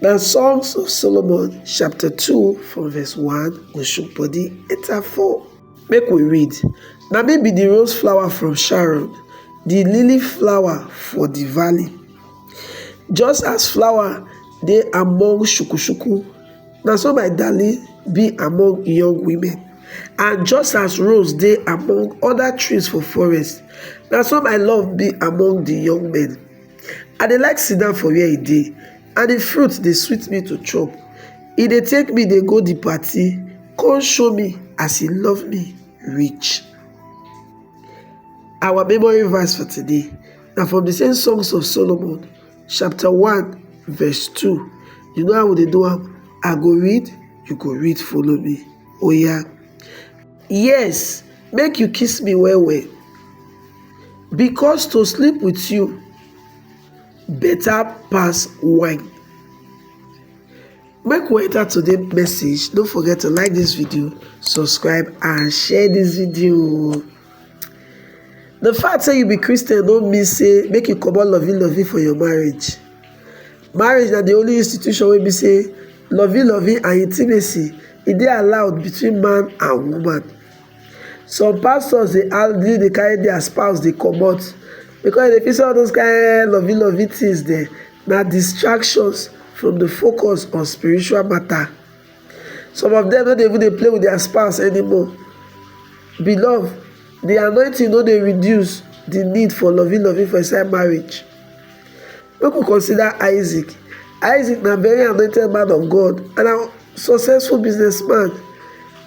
Na Songs of Solomon chapter 2 from verse 1 go chook body enter 4. Make we read. Na me be the rose flower from Sharon, the lily flower for the valley. Just as flower dey among shukushuku, na so my darling be among young women. And just as rose dey among other trees for forest, na so my love be among the young men. I dey like sit down for where e dey and the fruit dey sweet me to chop. E dey take me dey go the party come show me as e love me reach. Our memory verse for today na from the same Songs of Solomon chapter 1 verse 2. You know how we dey do am? I go read, you go read follow me. Oya! yes make you kiss me well well because to sleep with you better pass wine make we enter today message don't forget to like this video subscribe and share this video the fact say you be christian don't mean say make you comot loving loving for your marriage Marriage na di only institution wey be say lovey lovey and intimacy e dey allowed between man and woman. Some pastors dey hardly dey carry dia spouse dey comot because dem dey feel say all those kain lovey lovey things dem na distractions from di focus on spiritual matter. Some of them no dey even dey play with their spouse anymore. Beloved, the anointing no dey reduce the need for loving loving for inside marriage. Make we consider Isaac. Isaac na very anointed man of God and a successful businessman.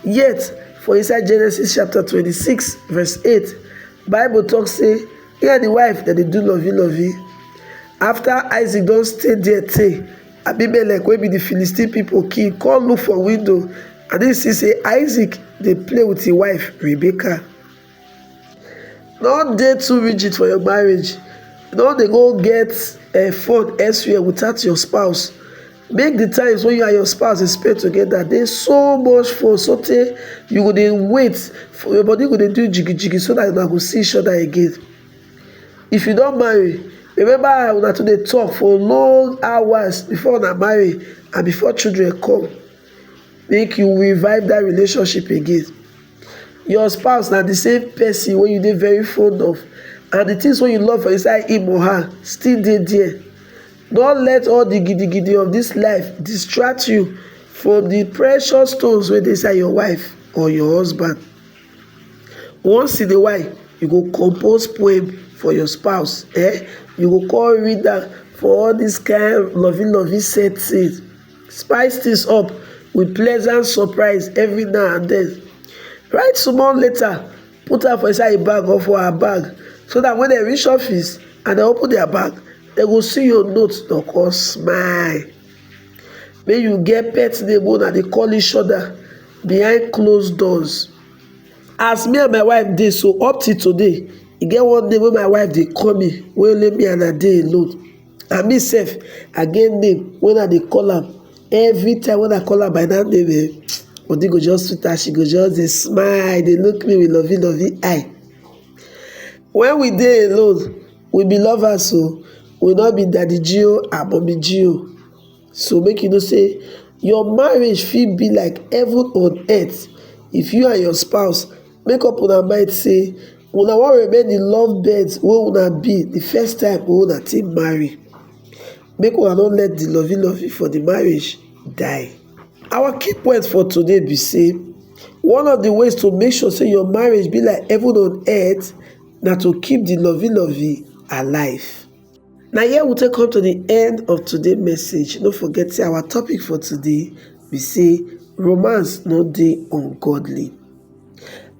Yet, for inside Genesis chapter 26 verse 8, Bible talk say he and the wife that they do loving loving. After Isaac don't stay there tey, Abimelek wey be di Philistine pipo king come look for window and im see say Isaac dey play with im wife Rebecca. No dey too rigid for your marriage, no dey go get eh, fun elsewhere without your spouse. Make di times wey you and your spouse dey spend together dey so much fun sotey you go dey wait, your body go dey do jigijigi so dat una go see each other again. if you don marry remember how una too dey talk for long hours before una marry and before children come make you revive that relationship again your spouse na the same person wey you dey very fond of and the things wey you love for inside him or her still dey there don't let all the gidigidi of this life distract you from the precious stones wey dey inside your wife or your husband Once in a while, you go compose poem for your spouse, eh? You go come read am for all this kind lovey lovey settings. Spice things up with pleasant surprise every now and then. Write small letter, put am for inside a bag or for her bag, so that when they reach office and they open their bag, they go see your note, they go smile. make you get pet name wey una dey call each other behind closed doors as me and my wife dey so up till today e get one name wey my wife dey call me wey only me and her dey alone and me sef I get name wey I dey call am every time wey I call am by that name eh body go just sweet her she go just dey smile dey look me with lovey lovey eye when we dey alone We be lovers o, we no be daddy G o and mummy G o. So make you know say your marriage fit be like heaven on earth if you and your spouse make up una mind say una wan remain the love birds wey una be the first time wey una take marry. Make una no let the lovey lovey for the marriage die. Our key point for today be say one of the ways to make sure say your marriage be like heaven on earth na to keep the lovey lovey alive. Na here we take come to the end of today message. No forget say our topic for today be say romance no dey ungodly.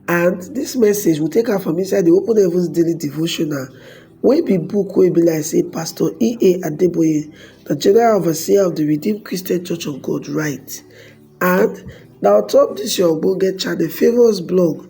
And this message we take am from inside the Open Heavens Daily Devotional wey be book wey be like say Pastor E.A. Adeboye, the General Overseer of the Redeemed Christian Church of God write. And na on top this your ogbonge channel Favours Blog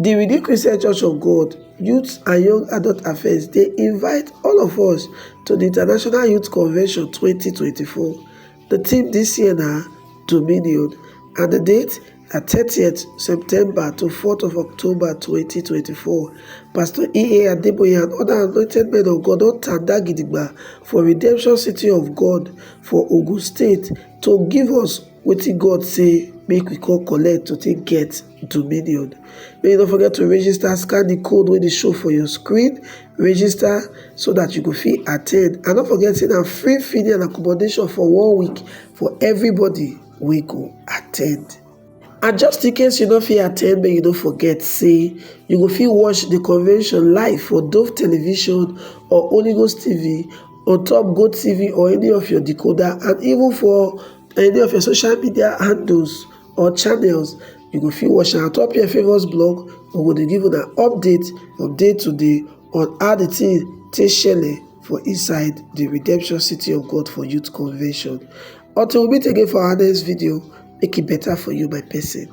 Di Redeem Christian Church of God Youth and Young Adult Affairs dey invite all of us to di International Youth Convention 2024. Di theme dis year na Dominion and di date na 30th September to 4th of October 2024. Pastor E.A. Adeboye and other anointed men of God don tanda gidigba for Redemption City of God for Ogun State to give us Wetin God say make we come collect to take get dominion. Make you no forget to register, scan the code wey dey show for your screen, register so that you go fit attend. And no forget say na free feeding and accommodation for one week for everybody wey go attend. And just in case you no fit attend, make you no forget say you go fit watch the convention live for Dove Television or Holy Ghost TV on top GoTv or any of your decoder and even for any of your social media handles or channels you go fit watch am ontop your favourite blog we go dey give una update from day to day on how the thing take shele for inside the redemption city of god for youth convention until we meet again for our next video make e better for you my person.